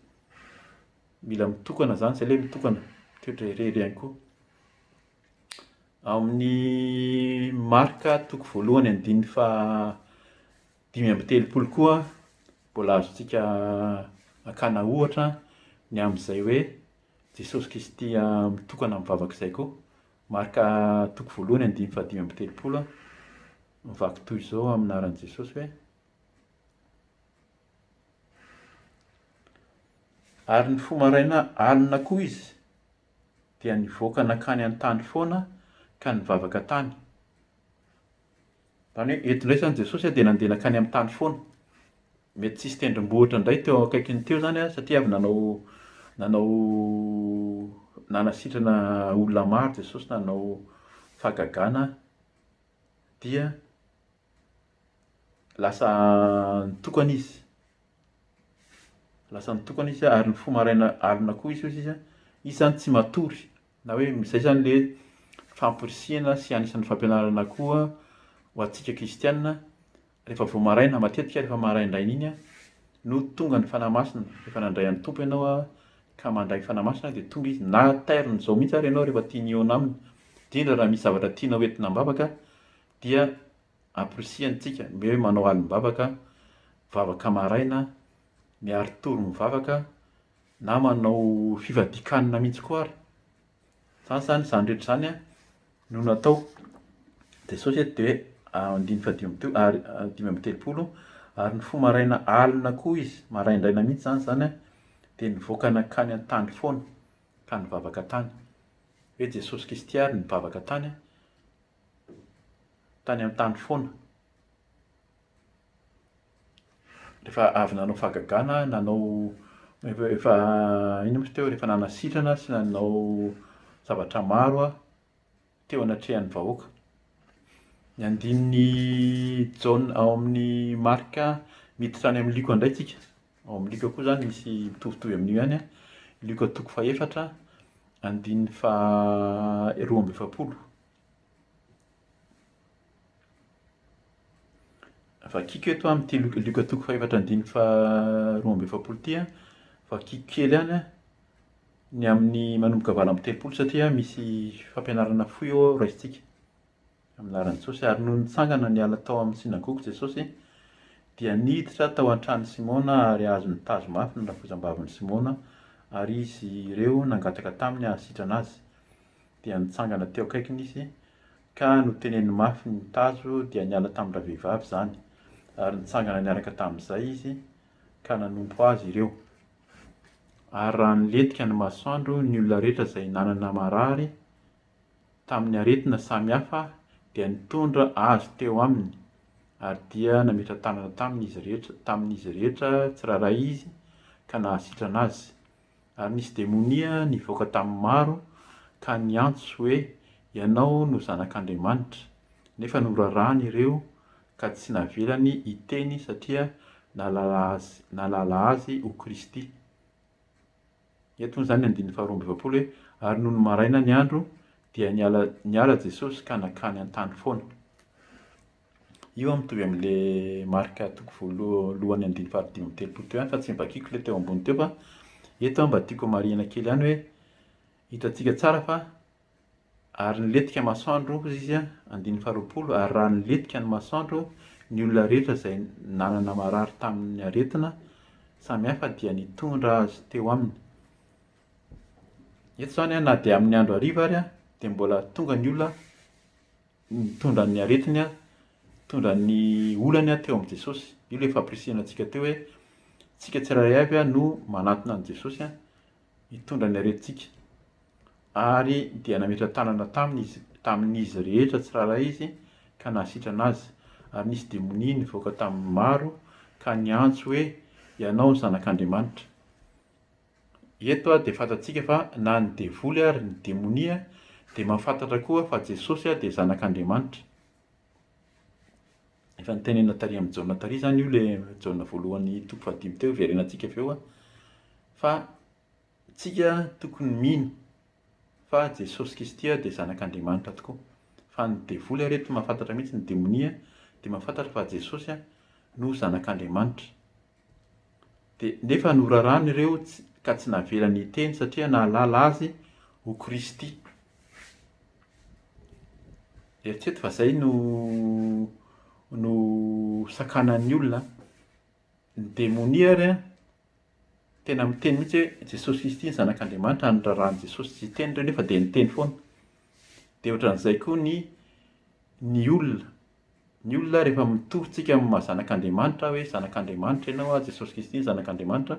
Mila mitokana izany izay ilay mitokana, mitoetra irery ihany koa. Ao amin'ny Marka toko voalohany andininy fa dimy amby telopolo koa mbola azontsika akana ohatra ny amin'izay hoe Jesosy Kristy mitokana mivavaka izay koa. Marka toko voalohany andininy fa dimy amby telopolo. Mivaky toy izao amin'ny anaran'i Jesosy hoe. Ary ny fo maraina alina koa izy dia nivoaka nankany an-tany foana ka nivavaka tany. Izany hoe eto indray izany Jesosy dia nandeha nankany amin'ny tany foana. Mety tsisy tendrombohitra indray teo akaikiny teo izany satria avy nanao nanao nanasitrana olona maro Jesosy nanao fahagagana dia lasa nitokana izy, lasa nitokana izy ary ny fo maraina alina koa izy hoy izy tsy matory, na hoe izay izany ilay hoe famporisihana sy anisan'ny fampianarana koa ho antsika kristiana Rehefa vao maraina, matetika rehefa maraindraina iny no tonga ny Fanahy Masina, efa nandray an'ny Tompo ianao ka mandray ny Fanahy Masina dia tonga Izy, na tairony izao mihitsy ary ianao rehefa tia ny hihaona Aminy, indrindra raha misy zavatra tianao entina am-bavaka dia amporisihany tsika, omeo hoe manao alim-bavaka, vavaka maraina, miari-tory mivavaka, na manao fivadikanina mihitsy koa ary. Zany izany, izany rehetra izany an, no natao. Jesosy eto dia hoe andininy fahadimy amby telo- ary dimy amby telopolo, ary nifoha maraina alina koa izy, maraindraina mihitsy izany izany an, dia nivoaka nankany an-tany foana, ka nivavaka tany. Hoe Jesosy Kristy àry nivavaka tany an, tany an-tany foana. Rehefa avy nanao fahagagana, nanao efa inona moa izy teo, rehefa nanasitrana sy nanao zavatra maro aho teo anatrehan'ny vahoaka. Ny andininy Jaona ao amin'ny Marka miditra any amin'ny Lioka indray tsika. Ao amin'ny Lioka koa izany misy mitovitovy amin'io ihany an. Lioka toko fahefatra, andininy faha roa amby efapolo. Vakiko eto amin'ity Luka, Luka toko fahefatra andininy faharoa amby efapolo ity an, vakiko kely ihany an, ny amin'ny manomboka valo amby telopolo satria misy fampianarana fohy ao aho raisintsika, amin'ny laharan'i Jesosy. Ary nony nitsangana niala tao amin'ny synagoga Jesosy, dia niditra tao an-tranon'i Simona ary azony tazo mafy ny rafozam-bavin'i Simona, ary izy ireo nangataka taminy hahasitrana azy. dia nitsangana teo akaikiny izy ka noteneniny mafy ny tazo dia niala tamin-dravehivavy izany ary nitsangana niaraka tamin'izay izy ka nanompo azy ireo. Ary raha nilentika ny masoandro ny olona rehetra izay nanana marary tamin'ny aretina samy hafa dia nitondra azy teo aminy ary dia nametra-tanana tamin'izy rehetra tamin'izy rehetra tsirairay izy ka nahasitrana azy. Ary nisy demonia nivoaka tamin'ny maro ka niantso hoe, Ianao no Zanak'Andriamanitra. Nefa norarany ireo ka tsy navelany hiteny satria nahalala Azy ho Kristy. Eto moa izany ny andininy faharoa amby efapolo hoe, Ary nony maraina ny andro, dia niala Jesosy ka nankany an-tany foana. Io an mitovy amle marika toko voalohany andininy fahadimy amby telopolo teo ihany fa tsy nivakiko le teo ambony teo fa eto an mba tiako hamarihana kely ihany hoe hitantsika tsara fa ary nilentika masoandro hozy izy an andininy faharoapolo ary raha nilentika ny masoandro ny olona rehetra izay nanana marary tamin'ny aretina samy hafa dia nitondra azy teo aminy. Eto izany an na dia amin'ny andro hariva ary an dia mbola tonga ny olona Nitondra ny aretiny, nitondra ny olany teo amin'i Jesosy. Io ilay fampirisihana antsika teo hoe isika tsirairay avy no manatona an'i Jesosy hitondra ny aretintsika. Ary dia nametra-tanana taminy izy, tamin'izy rehetra tsirairay izy ka nahasitrana azy. Ary nisy demonia nivoaka tamin'ny maro ka niantso hoe, Ianao Zanak'Andriamanitra. Eto dia fantatsika fa na ny devoly ary ny demonia dia mahafantatra koa fa Jesosy dia zanak'Andriamanitra. Efa nitenena tary amin'ny Jaona tary izany io le Jaona voalohany toko fahadimy teo, verenantsika avy eo fa tsika tokony mino fa Jesosy Kristy dia zanak'Andriamanitra tokoa. Fa ny devoly ary eto mahafantatra mihitsy ny demonia dia mahafantatra fa Jesosy no zanak'Andriamanitra. Dia nefa norarany ireo ka tsy navelany hiteny satria nahalala azy ho Kristy. Eritrereto fa izay no no sakanan'ny olona. Ny demonia ary an, tena miteny mihitsy hoe Jesosy Kristy no zanak'Andriamanitra, noraràn'i Jesosy tsy hiteny ireo nefa dia niteny foana. Dia ohatran'izay koa ny ny olona. Ny olona rehefa mitorontsika amin'ny maha zanak'Andriamanitra hoe zanak'Andriamanitra ianao an, Jesosy Kristy no zanak'Andriamanitra,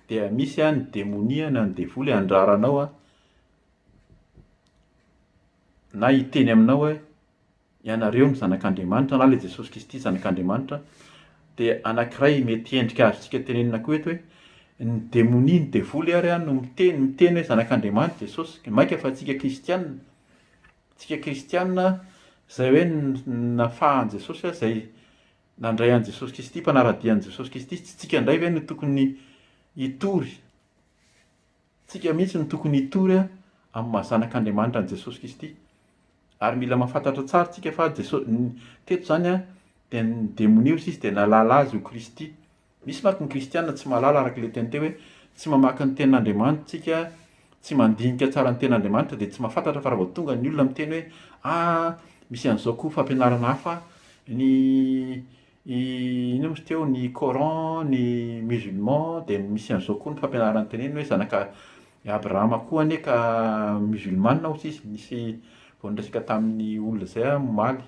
dia misy an ny demonia na ny devoly handrara anao an, na hiteny aminao hoe ianareo no zanak'Andriamanitra na ilay Jesosy Kristy zanak'Andriamanitra. Dia anankiray mety endrika azontsika tenenina koa eto hoe, ny demonia, ny devoly ary an no miteny, miteny hoe zanak'Andriamanitra Jesosy, mainka fa antsika kristiana. Tsika kristiana izay hoe nafahan'i Jesosy aho izay nandray an'i Jesosy Kristy, mpanara-dia an'i Jesosy Kristy, tsy tsika indray ve no tokony hitory? Tsika mihitsy no tokony hitory amin'ny maha zanak'Andriamanitra an'i Jesosy Kristy. Ary mila mahafantatra tsara tsika fa Jesosy, teto izany dia ny demonia hoy izy dia nahalala azy ho Kristy. Misy manko ny kristiana tsy mahalala araka ilay tiany teo hoe tsy mamaky ny tenin'Andriamanitra tsika, tsy mandinika tsara ny tenin'Andriamanitra dia tsy mahafantatra fa raha vao tonga ny olona miteny hoe ah misy an'izao koa fampianarana hafa, ny inona moa izy teo, ny coran, ny musulman dia misy an'izao koa ny fampianarana teneniny hoe zanaka Abrahama koa anie ka musulmana hozy izy, nisy vao niresaka tamin'ny olona izay aho omaly.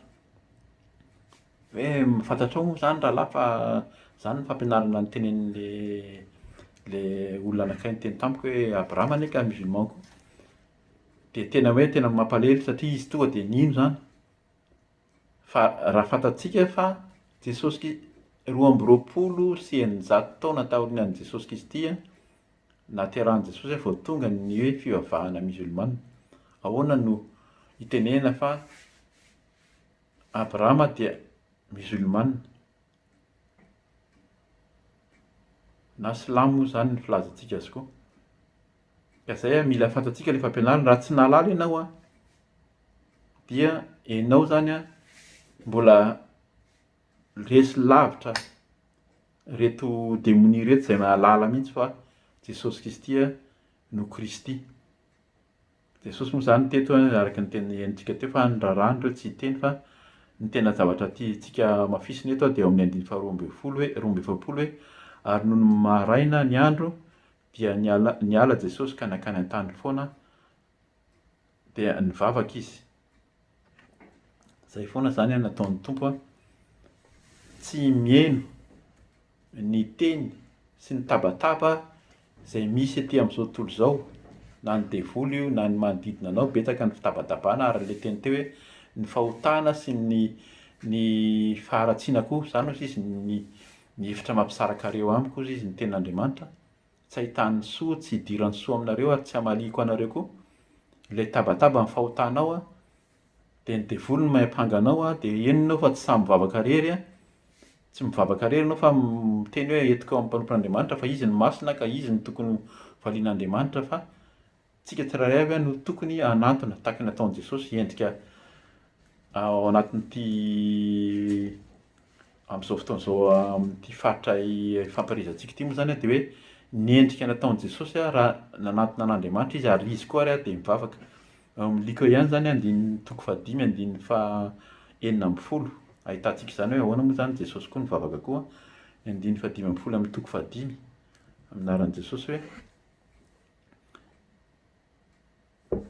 Hoe fantatrao moa izany rahalahy fa izany ny fampianarana nitenenin'ilay ilay olona anankiray niteny tamiko hoe Abraham anie ka musulman koa. Dia tena hoe tena mampalahelo satria izy tonga dia nino izany. Fa raha fantatsika fa Jesosy Kri- roa amby roapolo sy eninjato taona taorianan'i Jesosy Kristy nahaterahan'i Jesosy vao tonga ny hoe fivavahana musulmana. Ahoana no hitenenana fa Abrahama dia musulmane, na silamo moa izany ny filazantsika azy koa. Ka izay an, mila fantatsika ilay fampianarana. Raha tsy nahalala ianao an, dia ianao izany an, mbola resy lavitra ireto demonia ireto izay nahalala mihitsy fa Jesosy Kristy no Kristy. Jesosy moa izany teto araka ny tenenintsika teo fa ny raharaha an'ireo tsy hiteny fa ny tena zavatra tiantsika hamafisina eto dia ao amin'ny andininy faharoa ambin'ny folo hoe roa amby efapolo hoe ary nony maraina ny andro dia niala, niala Jesosy ka nankany an-tany foana dia nivavaka izy. Izay foana izany no ataon'ny Tompo an! Tsy mihaino ny teny sy ny tabataba izay misy aty amin'izao tontolo izao, na ny devoly io na ny manodidina anao, betsaka ny fitabatabana ary ilay teny teo hoe ny fahotana sy ny ny faharatsiana koa, izany hozy izy ny ny hevitra mampisarakareo amiko hozy izy ny tenin'Andriamanitra. tsy ahitan'ny soa, tsy idiran'ny soa aminareo ary tsy hamaliako anareo koa. Ilay tabataba ny fahotanao an, dia ny devoly no mahay hampanga anao an, dia henony ao fa tsy sahy mivavaka irery an, tsy mivavaka irery ianao fa miteny hoe entiko amin'ny mpanompon'Andriamanitra fa izy no masina ka izy no tokony ho valian'Andriamanitra fa Tsika tsirairay avy no tokony hanantona, tahaka ny nataon'i Jesosy, endrika ao anatin'ity, amin'izao fotoana izao, amin'ity faritra ifampaherezantsika ity moa izany dia hoe ny endrika nataon'i Jesosy raha nanantona an'Andriamanitra izy ary izy koa ary dia nivavaka. Ao amin'ny Lika ihany izany, andininy toko fahadimy, andininy fahenina ambin'ny folo, ahitantsika izany hoe ahoana moa izany Jesosy koa nivavaka koa. Ny andininy fahadimy ambin'ny folo amin'ny toko fahadimy, amin'ny anaran'i Jesosy hoe.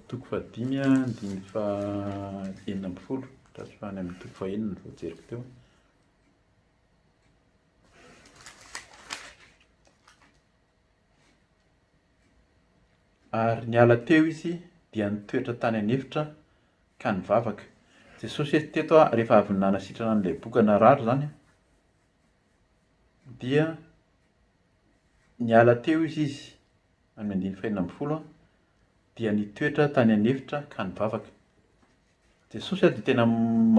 Toko fahadimy a, andininy fahenina ambin'ny folo, tratry fa any amin'ny toko fahenina vao jeriko teo. Ary niala teo izy dia nitoetra tany an'efitra ka nivavaka. Jesosy eto teto a, rehefa avy nanasitrana an'ilay boka narary izany a, dia niala teo izy izy, amin'ny andininy fahenina ambin'ny folo, dia nitoetra tany an'efitra ka nivavaka. Jesosy dia tena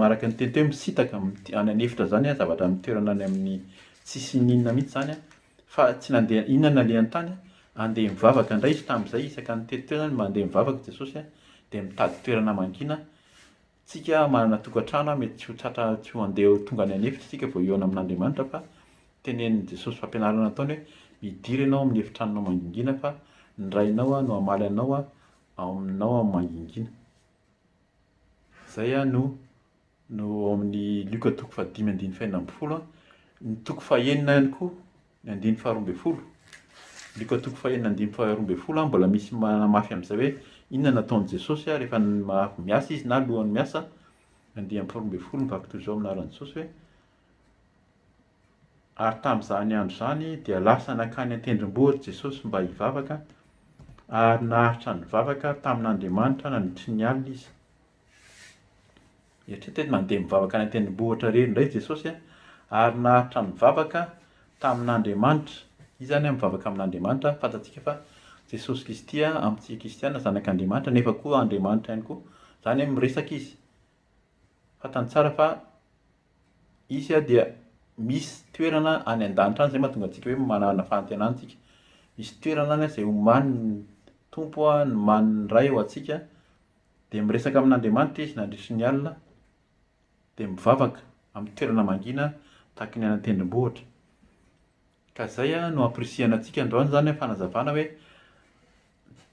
araka ny teniteny hoe misintaka any an'efitra izany an, zavatra amin'ny toerana any amin'ny tsisy inona inona mihintsy izany an, fa tsy nandeha inona no nalehany tany, handeha mivavaka indray izy tamin'izay, isaka nitety teo izany mandeha mivavaka Jesosy an, dia mitady toerana mangina, Tsika manana tokantrano an, mety tsy ho tratra tsy ho andeha ho tonga any an'efitra tsika vao hihaona amin'Andriamanitra fa tenenin'i Jesosy fampianarana nataony hoe midira ianao amin'ny efitranonao mangingina fa ny Rainao no hamaly anao ao aminao amin'ny mangingina. Zay an no no ao amin'ny Lioka toko fahadimy andininy fahenina ambin'ny folo an, ny toko fahenina ihany koa Ny andininy faharoa ambin'ny folo. Lika toko fahenina andininy faharoa ambin'ny folo mbola misy manamafy amin'izay hoe inona no ataon'i Jesosy ary efa avy miasa izy na alohan'ny miasa. Andininy faharoa ambin'ny folo mivaky toy izao amin'ny anaran'i Jesosy hoe ary tamin'izany andro izany dia lasa nankany an-tendrombohitra Jesosy mba hivavaka ary naharitra nivavaka tamin'Andriamanitra nandritry ny alina izy. Mieritreritra hoe nandeha mivavaka any an-tendrombohitra irery indray Jesosy ary naharitra nivavaka tamin'Andriamanitra. Izy izany mivavaka amin'Andriamanitra. Fantatsika fa Jesosy Kristy amintsika kristiana zanak'Andriamanitra nefa koa Andriamanitra ihany koa. Izany hoe miresaka izy. Fantany tsara fa izy dia misy toerana any an-danitra any. Izay no mahatonga antsika hoe manana fanantenana isika. Misy toerana any izay omanin'ny Tompo, nomanin'ny Ray ho antsika Dia miresaka amin'Andriamanitra izy nandritry ny alina, dia mivavaka amin'ny toerana mangina tahaky ny any an-tendrombohitra. Ka izay no ampirisihana antsika androany izany fanazavana hoe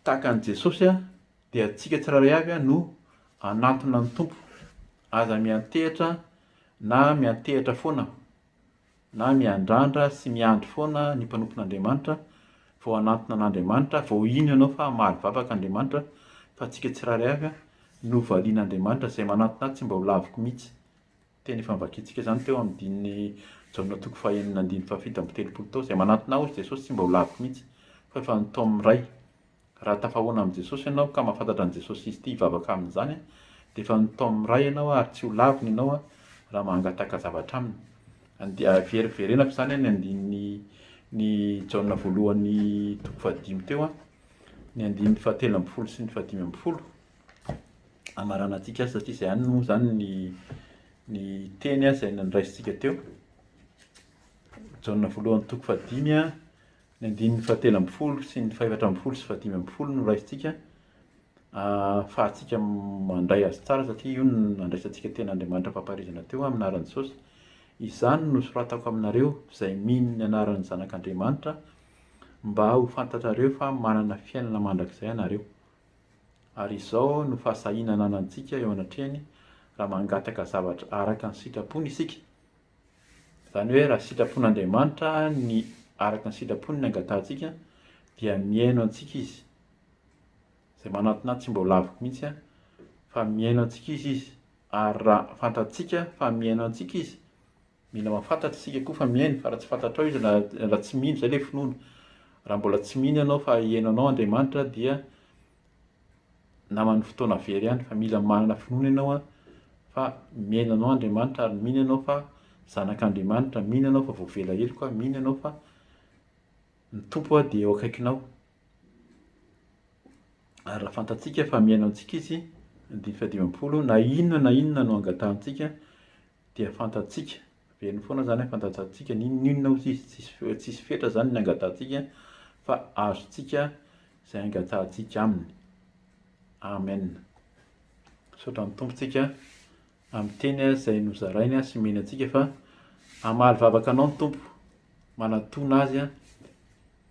tahaka an'i Jesosy dia antsika tsirairay avy no hanantona ny Tompo. Aza miantehitra na miantehitra foana. na miandrandra sy miandry foana ny mpanompon'Andriamanitra vao hanantona an'Andriamanitra, vao hino ianao fa hamaly vavaka Andriamanitra fa antsika tsirairay avy no valian'Andriamanitra, izay manantona ahy tsy mba ho laviko mihitsy. Teny efa novakiantsika izany teo amin'ny dinin'i Jaona toko fahenina andininy fahafito amby telopolo tao, izay manantona ahy hoy Jesosy tsy mba ho laviko mihitsy fa efa nataony miray. Raha tafahoana amin'i Jesosy ianao ka mahafantatra an'i Jesosy Izy tia hivavaka amin'izany, dia efa mitaomy ny Ray ianao ary tsy ho laviny ianao raha mangataka zavatra Aminy. Andeha veriverenako izany ny andininy ny Jaona voalohany toko fahadimy teo, ny andininy fahatelo ambin'ny folo sy ny fahadimy ambin'ny folo. Hamaranantsika azy satria izay ihany moa izany ny ny teny izay nandraisintsika teo. Jaona voalohany toko fahadimy Ny andininy fahatelo ambin'ny folo sy ny fahefatra ambin'ny folo sy fahadimy ambin'ny folo no raisintsika ahafahantsika mandray azy tsara satria io no nandraisantsika teny Andriamanitra am-pampaharizana teo amin'ny anaran'i Jesosy. Izany no nosoratako aminareo izay mino ny anaran'ny Zanak'Andriamanitra mba ho fantatrareo fa manana fiainana mandrakizay ianareo. Ary izao no fahasahiana ananantsika eo anatrehany raha mangataka zavatra araka ny sitrapony isika. Izany hoe raha sitrapon'Andriamanitra ny araka ny sitrapony ny angatahantsika dia mihaino antsika izy. Izay manantona ahy tsy mba ho laviko mihitsy fa mihaino antsika izy izy ary raha fantatsika fa mihaino antsika izy, mila mahafantatra isika koa fa mihaino fa raha tsy fantatrao izy na raha tsy mino, izay ilay finoana, raha mbola tsy mino ianao fa hihaino anao Andriamanitra dia naman'ny fotoana very ihany fa mila manana finoana ianao an, fa miaina anao Andriamanitra ary mino ianao fa zanak'Andriamanitra, mino ianao fa voavela heloka, mino ianao fa ny Tompo an dia eo akaikinao. Ary raha fantatsika fa miaina amintsika Izy, andininy fahadimampolo, na inona na inona no angatahantsika, Dia fantatsika, averiny foana izany hoe fantatsika, n'inon'inona hozy izy, tsisy fe- tsisy fetra izany ny angatahantsika fa azontsika izay angatahantsika Aminy. Amen. Misaotra ny Tompo tsika amin'ny teny izay nozarainy sy omeny antsika fa hamaly vavaka anao ny Tompo, manatona Azy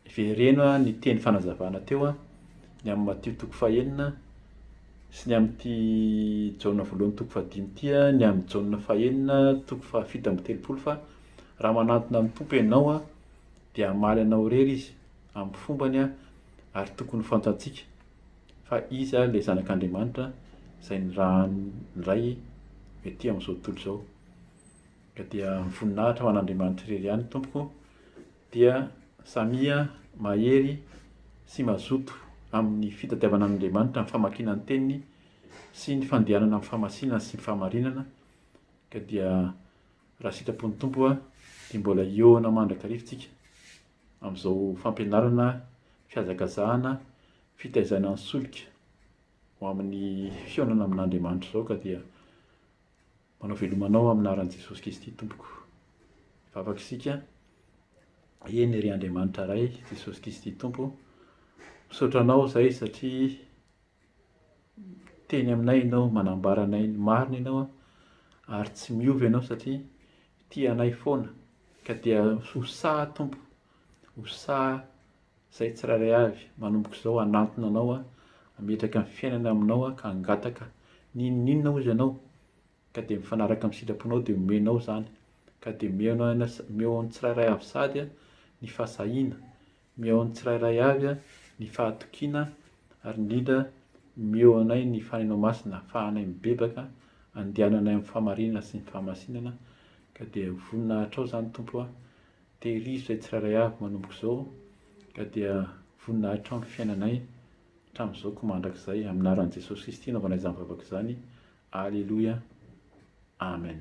Hivereno ny teny fanazavana teo an, ny amin'ny Matio toko fahenina sy ny amin'ity Jaona voalohany toko fahadimy ity an, ny amin'ny Jaona fahenina toko fahafito amby telopolo fa raha manantona ny Tompo ianao an, dia hamaly anao irery Izy amin'ny fombany an, ary tokony ho fantantsika fa Izy ilay Zanak'Andriamanitra izay nirahan'ny Ray ety amin'izao tontolo izao. Ka dia mivoninahitra ho an'Andriamanitra irery ihany tompoko. dia samia mahery sy mazoto amin'ny fitadiavana an'Andriamanitra, amin'ny famakiana ny Teniny sy ny fandehanana amin'ny famasinana sy ny fahamarinana, ka dia raha sitrapon'ny Tompo a, dia mbola hihaona mandrakariva tsika amin'izao fampianarana, fihazakazahana, fitaizana ny solika ho amin'ny fihaonana amin'Andriamanitra izao ka dia. Manao veloma anao amin'ny anaran'i Jesosy Kristy tompoko. Vavaka isika. Eny ry Andriamanitra Ray, Jesosy Kristy Tompo. Misaotra anao izay satria teny aminay ianao, manambara anay ny marina ianao ary tsy miova ianao satria tia anay foana. Ka dia ho sahy Tompo, ho sahy Izay tsirairay avy manomboka izao hanantona anao hametraka ny fiainany aminao ka hangataka n'inon'inona hozy ianao ka dia mifanaraka amin'ny sitraponao dia omenao izany ka dia mihaona ho anao mihaona ho an'ny tsirairay avy sady ny fahasahiana mihaona ho an'ny tsirairay avy ny fahatokiana ary indrindra mihaona ho anay ny fananao masina ahafahanay mibebaka andehananay amin'ny fahamarinana sy ny fahamasinana ka dia voninahitrao izany Tompo a dia ry izay tsirairay avy manomboka izao ka dia voninahitra amin'ny fiainanay hatramin'izao ko mandrakizay amin'ny anaran'i Jesosy Kristy anaovana izany vavaka izany aleloia amen